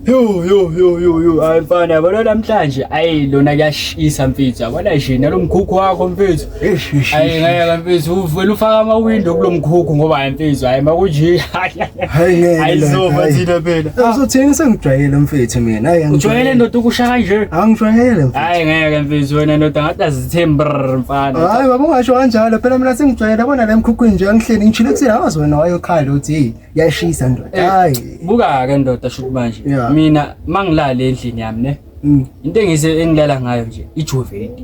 Yo yo yo yo yo hayi mfana yabona namhlanje ayi lona kuyashisa mfethu yabona nje nalomkhukhu wakho mfethu ayi ngeke mfethu uvela ufaka ama window kulomkhukhu ngoba hayi mfethu hayi makunje hayi ngeke ayizoba thina phela ah. uzothini sengijwayele mfethu mina hayi ujwayele ndoda ukusha kanje angijwayele mfethu hayi ngeke mfethu wena ndoda ngathi azithember mfana hayi baba ungasho kanjalo phela mina sengijwayele bona lemkhukhu nje angihleli ngichile kusile awazi wena wayokhala uthi yashisa ndoda Eh, hayi buka-ke ndoda shuthi manje Yeah. mina ma ngilale endlini yami ne Mm. into engise engilala ngayo nje ijuvedi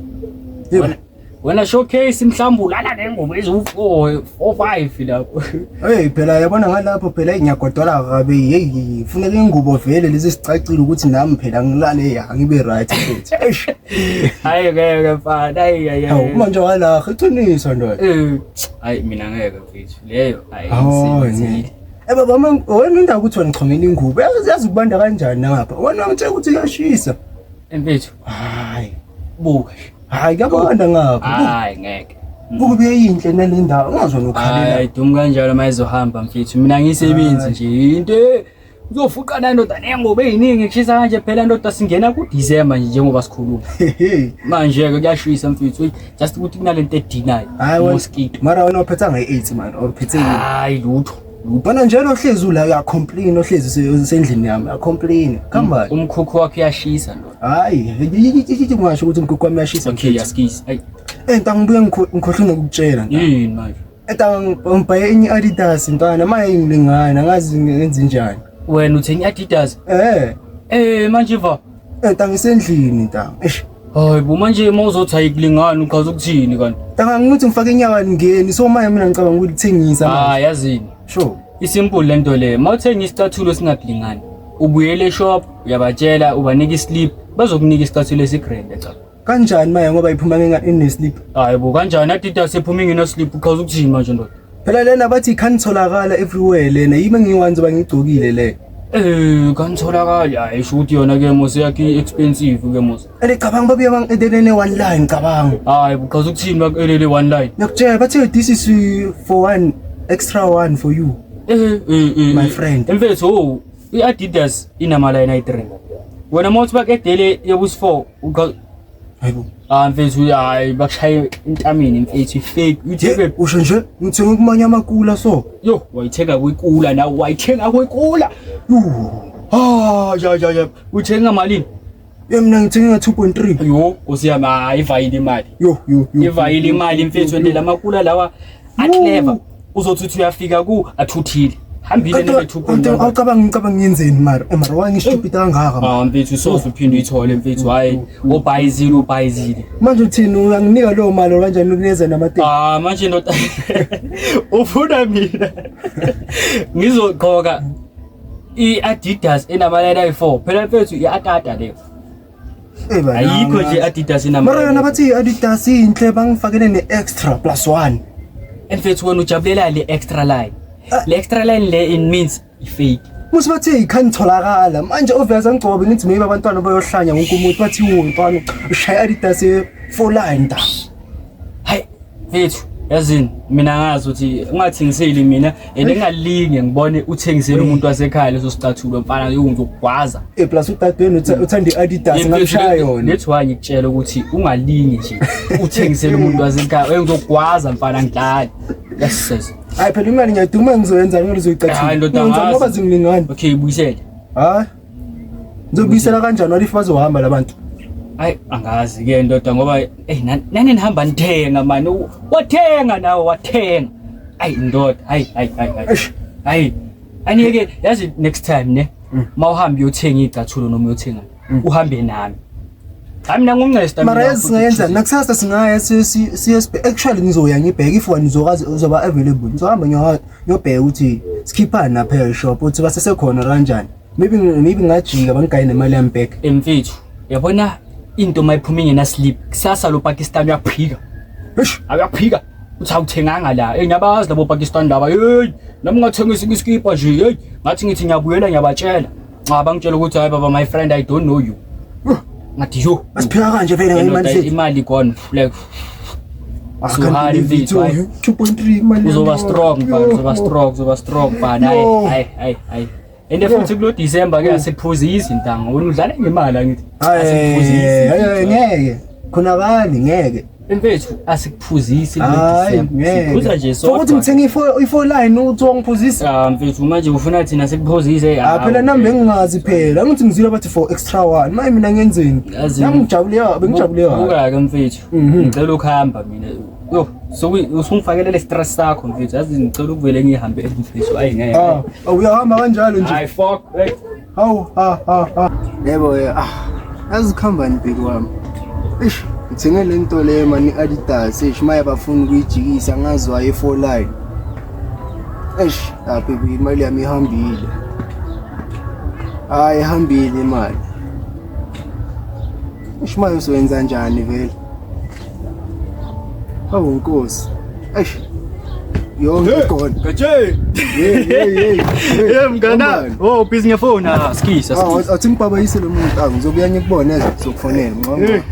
Yebo. Wena- wena showcase mhlawumbe ulala nengoma eziwu-four four five lapho Hey phela yabona ngalapho phela ngiyagodola kabe hey funeka ingubo vele lezi sicacile ukuthi nami phela ngilale ya ngibe right futhi eish hayi ngeke mfana hayi hayi hawu hayi. manje wala iqiniso ndoda Eh, hayi mina ngeke Mfethu leyo ayisebenzile. Eh baba wami wena indawo ukuthi wena chomela ingubo. Yazi ukubanda kanjani ngapha. Wena ngitshela ukuthi uyashisa. Mfethu. Hayi. Buka. Hayi kuyabanda ngapha. Hayi ngeke. Buka beyinhle nalendawo. Ungazona ukhalela. Hayi dum kanjalo mayizohamba mfethu. Mina ngisebenzi nje into Uzofuqa la ndoda nengoba eyiningi kushisa kanje phela ndoda singena ku December nje njengoba sikhuluma. Manje ke kuyashisa mfethu. Just ukuthi kunalento edinayo. Mosquito. Mara wena uphetha nge 8 man or uphethe nini? Hayi lutho. Ubona njalo ohlezi ula ya complain ohlezi usendlini yami ya complain. Kamba um, umkhukhu wakhe uyashisa ndoda. Hayi, yithi ngasho ukuthi umkhukhu wami uyashisa. Okay, yaskisi. Hayi. Enta ngibuye ngikhohlwe ngokutshela. Yini manje? Eda ngibhaye enye i-Adidas mfana manje ingilingana ngazi ngenze njani. Wena uthenge i-Adidas? Eh. Eh manje va. Eda ngisendlini ntanga. Eish. Hayi bo manje uma uzothi ayikulingani uchaza ukuthini kanti? Ntanga ngithi ngifake inyawo alingeni so manje mina ngicabanga ukuthi lithengisa manje. Ah yazini. Sure. Isimple lento le. Mawuthenga isicathulo singakulingani. Ubuyele shop uyabatshela ubanika islip bazokunika isicathulo esigrand echa. Kanjani maye ngoba iphuma ngenga inesleep. Hayi bo kanjani adida sephuma ingena sleep uqhaza ukuthini manje ndoda. Phela lena bathi can tholakala everywhere lena yima ngiwanzi bangigcokile le. Eh kanitholakali hayi sho ukuthi yona ke mose yakhe expensive ke mose. Ene cabanga babuye bang edelene one line cabanga. Hayi buqhaza ukuthini bakelele one line. Ngiyakutshela bathi this is uh, for one extra one for you. Eh eh eh my eh. friend. Emfethu oh i-Adidas inama line ayi-3. Wena mawuthi bakudedele yokusi-4 hayibo ah mfethu hayi bakushaye intamini mfethu ifake uyitheke usho nje ngithenga kumanye amakula so yo wayithenga kwikula nawe wayithenga kwikula ah ya ya ya uyithenga malini ye mina ngithenga nga 2.3 yo nkosi yami hayi ivayile imali yo yo ivayile imali mfethu ndela amakula lawa aclever uzothi uthi uyafika ku athuthile hambile nethuphoawucabanga ngicabanga ngiyenzeni mara eh, mara wangishupita kangaka ah, mfethu soze uphinde uyithole mfethu hhayi obhayizile ubhayizile manje uthini uyanginika lowo mali kanjani ukuneza namateki ah, manje ndoda ufuna mina ngizogqoka i-adidas enamaleta ayi-four phela mfethu i-atata leyo Eh, bana, ayikho mara. nje adidas mara yona inama bathi i-adidas inhle bangifakele ne-extra plus one mfethu wena ujabulela le extra line Ah. le extra line le in means ifake musi bathi ikhangitholakala manje obvious angigcobe ngithi maybe abantwana bayohlanya wonke umuntu bathi wo mfana ushaya i-adidas ye-four line da hayi mfethu yazini mina ngazi ukuthi ungathengiseli mina and engalinge ngibone uthengisele umuntu wasekhaya leso sicathulo mfana yokugwaza eh plus udadweni uthanda iAdidas ngamshaya yona nethi waye ngikutshela ukuthi ungalinge nje uthengisele umuntu wasekhaya uyengizokugwaza mfana ngidlali yes yes hayi phela imali ngiyaduma ngizoyenza ngeke uzoyicathula hayi ndoda ngoba zimlingani okay buyisele hayi Ngizobuyisela kanjani walifa bazohamba labantu? Hayi angazi ke ndoda ngoba hey nani nihamba nithenga mani wathenga nawe wathenga. Hayi ndoda hayi hayi hayi. Hayi. Aniyeke yazi next time ne mm. mawuhamba uyothenga igcathulo noma uyothenga mm. uhambe nami. Hayi mina ngumncesta mina. Mara yazi singayenza nakusasa singaya siye actually ngizoya ngibheke if wani uzokazi uzoba available. Ngizohamba ngiyohamba. yobheka ukuthi sikhiphani lapha eshop uthi basesekhona kanjani maybe maybe ngajika bangigaye nemali yami back emfethu yabona into uma iphuma ingena sleep kusasa lo Pakistan uyaphika eish uyaphika uthi awuthenganga la hey ngiyabazi labo Pakistan laba hey nami ngathengisa iskipa nje hey ngathi ngithi ngiyabuyela ngiyabatshela nxa bangitshela ukuthi hayi baba my friend i don't know you ngathi yo asiphika kanje vele ngemali sethu imali gone like suhari mfethu hayi 2.3 imali uzoba strong ba uzoba strong uzoba strong ba hayi hayi hayi hayi ende futhi kulo December ke asiphuzisi ntanga wena udlala ngemali angithi asiphuzisi ngeke khona bani ngeke Mfethu asikuphuzisi Hayi, ngeke. sikuphuza nje So ukuthi sodwa. ngithenga ifo- ifo line uthi wangiphuzisa Ah, mfethu manje ufuna thina sikuphuzise Ah, phela nami bengingazi phela angithi ngizwile bathi for extra one maye mina ngenzeni Yazi- nami ngijabule ya- bengijabule ya. ukake mfethu Mhm. ngicela ukuhamba mina yo sokuyi- usungifakelele stress sakho mfethu yazi ngicela ukuvele ngihambe mfethu ayi ngeke Ah, uyahamba kanjalo nje Hayi, fuck. Hey. Hawu ha ha ha. Yebo eh, ah. Azikhambani bheki wami. Eish, ngithenge le nto le mani Adidas, eish maye bafuna ukuyijikisa ngazi waye for line. Eish, ah baby imali yami ihambile. Hayi ihambile imali. Eish maye uzoyenza njani vele? Hawu Nkosi. Eish. Yo ngikona. Gaje. Hey hey hey. Hey mngana. Oh busy ngefoni ah skisa. Ah athi ngibaba yise lo muntu ah ngizobuya ngikubone eze sokufonela ngicabanga. Eh.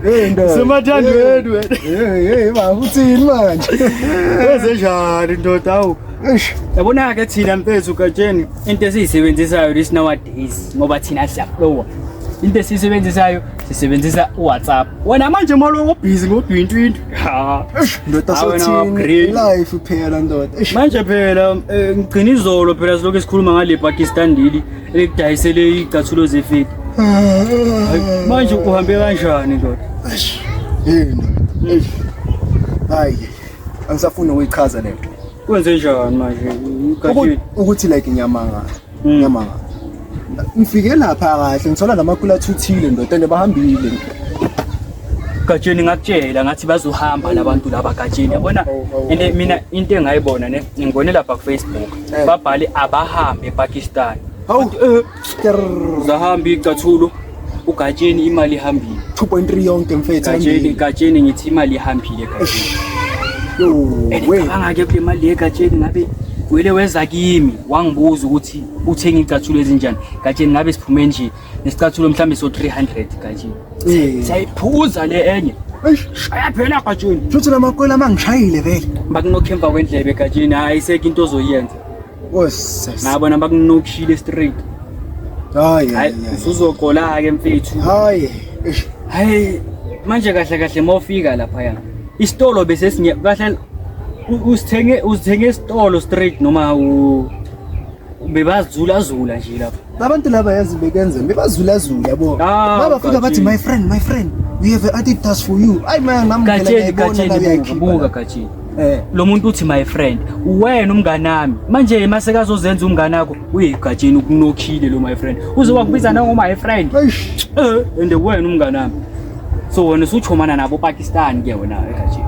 Hey ndo. Semathando wethu wena. Hey hey ba uthini manje? Wenze njani ndoda awu? Eish. Yabona ke thina mfethu gatsheni into esiyisebenzisayo this nowadays ngoba thina siyaflowa. Into esiyisebenzisayo sisebenzisa uwhatsapp wena manje molo ubhizi ngodwintwintu ndoda sothini life phela ndoda manje phela eh, ngigcina izolo phela silokhu esikhuluma ngale pakistan leli elikudayisele iy'cathulo zefeti manje uhambe kanjani ndoda hayi angisafuni ukuyichaza le nto kwenze njani manje ukuthi like ngiyamangala Mm. Ngiyama. Ngifike lapha kahle ngithola namakula thuthile ndoda and bahambile. Gatsheni ngakutshela ngathi bazohamba labantu laba Gatsheni yabona Oh, oh, oh. ine mina into engayibona ne ngibone lapha ku Facebook Eh. babhale abahambe ePakistan Hawu. Uzahambi icathulo ugatsheni imali ihambile 2.3 yonke mfethu gatsheni gatsheni ngithi imali ihambile gatsheni angake kule mali yegatsheni ngabe wele weza kimi wangibuza ukuthi uthenge icathulo ezinjani gatsheni ngabe siphume nje nesicathulo mhlawumbe so 300 gatsheni eh. sayiphuza le enye shaya phela gatsheni shuthi lamakwela mangishayile vele bakunokhemva kwendlebe gatsheni hayi seke into ozoyenza nabo bona bakunokushile straight hayi usuzogola ke mfethu hayi hayi manje kahle kahle mawufika lapha ya isitolo bese sinye kahle usithenge usithenge isitolo straight noma u bebazula zula nje lapha labantu laba yazi bekenze bebazula zula yabo ah, babafika bathi my friend my friend we have an Adidas for you ayi manje ngamgela ngayibona la yakhe buka gathi Eh. lo muntu uthi my friend uwena umngane wami manje yema sekazozenza umngane wakho uyigatsheni ukunokhile lo my friend uze wakubiza nango my friend Eish. eh and uwena umngane wami so wena usuchomana nabo Pakistan ke wena egatsheni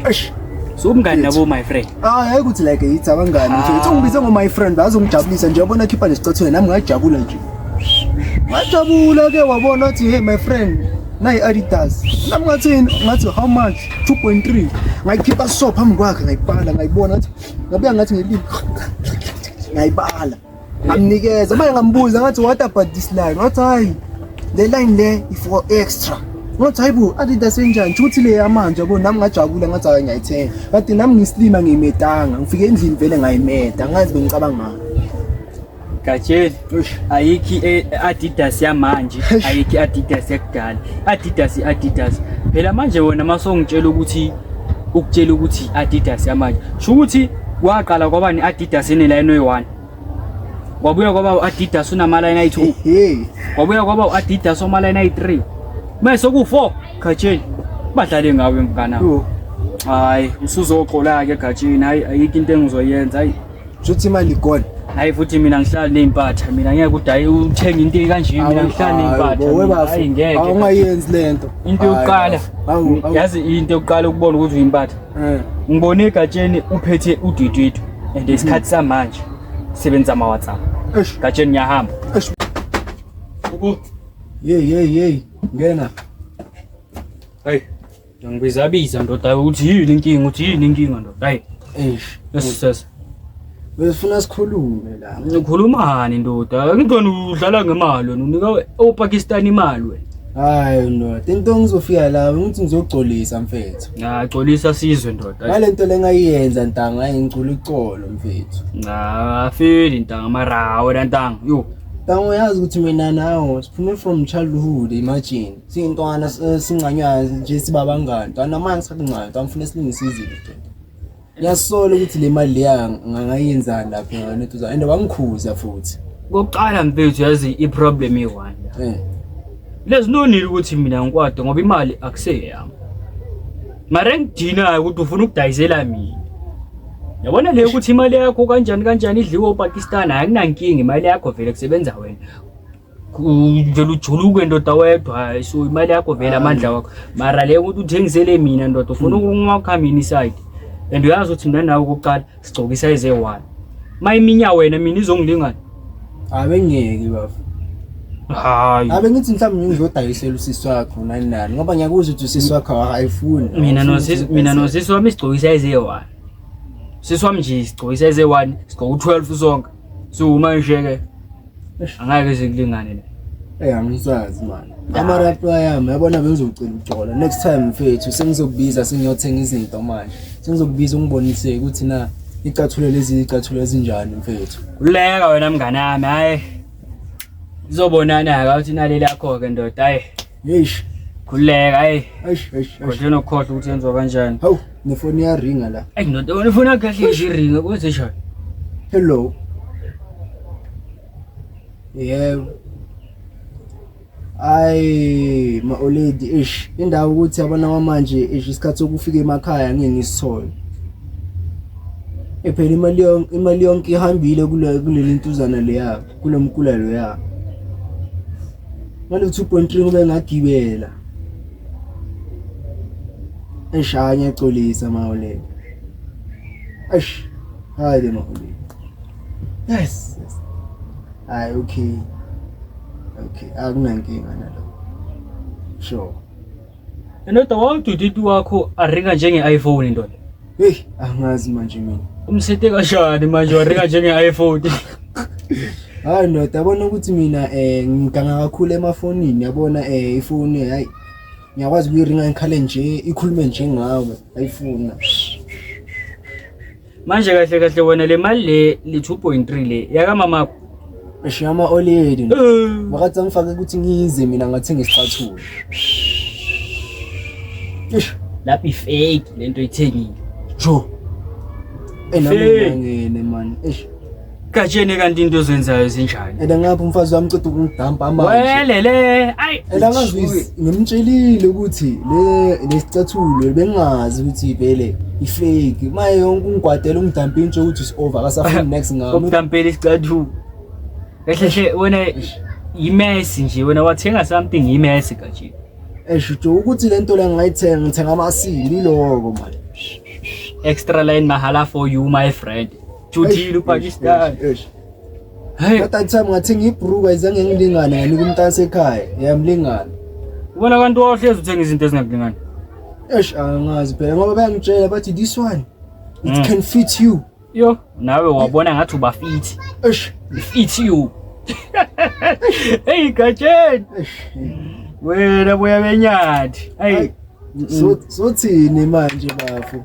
Eish. so umngane nabo my friend Ah, hayi ukuthi like yithi abangani nje. Uthi ungibize ngo my friend bazongijabulisa nje yabona khipha nesicathweni nami ngajabula nje. Ngajabula ke wabona uthi hey my friend nayi Adidas. Nami ngathi ngathi how much? 2.3 ngayikhipha so phambi kwakhe ngayibhala ngayibona ngathi ngabuya ngathi ngelimi ngayibala ngamnikeza manje ngambuza ngathi what about this line wathi hayi le line le for extra ngathi hayi bo adidas enjani shuthi le yamanje yabo nami ngajabula ngathi hayi ngiyayithenga kade nami ngisilima ngiyimedanga ngifike endlini vele ngayimeda ngazi bengicabanga ngayo Gatsheni, ayikhi i-Adidas yamanje, ayikhi i-Adidas yakudala. Adidas i-Adidas. Phela manje wena masongitshela ukuthi ukutshela ukuthi i-Adidas yamanje. Sho ukuthi waqala kwaba ne-Adidas enelayini oyi-1. Kwabuya kwaba u-Adidas unamalayini ayi-2. Kwabuya kwaba u-Adidas omalayini ayi-3. Mase ku-4 Gatsheni. Badlale ngawe mfana. Hayi, usuzoqola ke Gatsheni. Hayi ayikho into engizoyenza. Hayi. Shuthi imali igone. Hayi futhi mina ngihlala nezimpatha mina ngeke udayi uthenga into kanje mina ngihlala nezimpatha. Hayi ngeke. Awungayenzi lento. Into yokuqala. Yazi into yokuqala ukubona ukuthi uyimpatha. Eh. Ngibone egatsheni uphethe udwidwidwe and isikhathi samanje sebenza ama WhatsApp. Gatsheni ngiyahamba. Ubu. Yey yey yey ngena. Hey. Ngibizabiza ndoda ukuthi yini inkinga ukuthi yini inkinga ndoda. Hayi. Eish. Yesisesa. Besifuna sikhulume la. Ngikhulumani ndoda? Ngidona udlala ngemali wena unika oPakistan imali wena. Hayi ndoda, into ngizofika la ngithi ngizogcolisa mfethu. Nah, gcolisa sizwe ndoda. Ngalento lengayiyenza ntanga ayingicula icolo mfethu. Nah, afeli ntanga mara wena ntanga. Yo. Ntanga uyazi ukuthi mina nawe siphume from childhood imagine. siyintwana singcanywayo nje sibabangani ntwana manje sikhathi ngcanywa ntwana ngifuna silungise izinto nje ngiyasola ukuthi le mali leya ngangayenzani lapho ngane tuza and wangikhuza futhi kokuqala mfethu yazi i-problem iyi-one eh. lezi nonile ukuthi mina ngikwade ngoba imali akuseyeyami mara engidinayo ukuthi ufuna ukudayisela mina yabona le ukuthi imali yakho kanjani kanjani idliwe upakistan akunankinga imali yakho vele kusebenza wena uvele ujuluke ndoda wedwa so imali yakho vele amandla wakho mara le ukuthi uthengisele mina ndoda ufuna hmm. ukunqwakha mina iside and uyazi ukuthi mina nawe kokuqala sigcoka isayize one ma iminya wena mina izongilingana abengeke bafo hayi abe ngithi mhlawumbe ngizodayisela usisi wakho nani nani ngoba ngiyakuzwa ukuthi usisi wakho ayifuni mina nosisi mina nosisi wami sigcoka isayize one sisi wami nje sigcoka isayize one sigcoka u12 sonke so uma nje ke angeke zikulingane la Hey angisazi manje. Ama rap ayami yabona bengizocela ujola. Next time mfethu sengizokubiza sengiyothenga izinto manje. Sengizokubiza ungibonise ukuthi na icathulo lezi icathulo ezinjani mfethu. Uleka wena mngane wami hayi. Izobonana ka uthi naleli yakho ke ndoda hayi. Eish. Khuleka hey. Eish eish. Kodwa nokhohle ukuthi yenziwa kanjani. Hawu, nefoni iyaringa la. Ey ndoda, unifoni yakhe ihlezi iringa kuze shaya. Hello. Yebo. Ay, ma oledi eish. Indawo ukuthi abana kwamanje eish isikhathi sokufika emakhaya ngeke ngisithole. Ephela imali yonke imali yonke ihambile kule kuleli ntuzana leya kulomkula loya. ngale 2.3 kube ngagibela eshaya ngiyaxolisa mawolelo eish hayi le mawolelo yes yes hayi okay okay akunankinga nalokho sure Ndoda wawududidi wakho aringa njenge-iPhone ndoda. Hey, angazi manje mina. Umsete kanjani manje waringa njenge-iPhone? Hayi ndoda yabona ukuthi mina eh ngiganga kakhulu emafonini yabona eh ifoni hayi ngiyakwazi ukuyiringa ngikhale nje ikhulume nje ngawe ayifuna. manje kahle kahle wena le mali le le 2.3 le yakamamakho eshiya ama oledi eh. makathi angifake ukuthi ngize mina ngathenga isicathulo ish lapha ifake lento ithengile jo enami ngene man ish Gatsheni kanti into ozenzayo zinjani? And angabe umfazi wami ceda ukungidampa manje. Welele. Ay. And angazi ngimtshelile ukuthi le lesicathulo bengazi ukuthi vele ifake. Maye yonke ungigwadela ungidampa intshe ukuthi is over akasafuni next ngami. Ukudampela isicathulo. Kahle hle wena yimesi nje wena wathenga something yimesi gatsheni. Eshuthi ukuthi lento le ngayithenga ngithenga amasili lokho manje. Extra line mahala for you my friend. Judile uPakistan. Hey. At that time ngathi ngibruka izange ngilingane yanika umntase ekhaya. Yamlingana. Ubona abantu ohlezi uthenga izinto ezingakulingani. Eish angazi phela ngoba bayangitshela bathi this one it mm. can fit you. Yo, nawe wabona ngathi uba fit. Eish, fit you. Hey Gatsheni. Wena boya benyathi. Hey. So sothini manje bafo?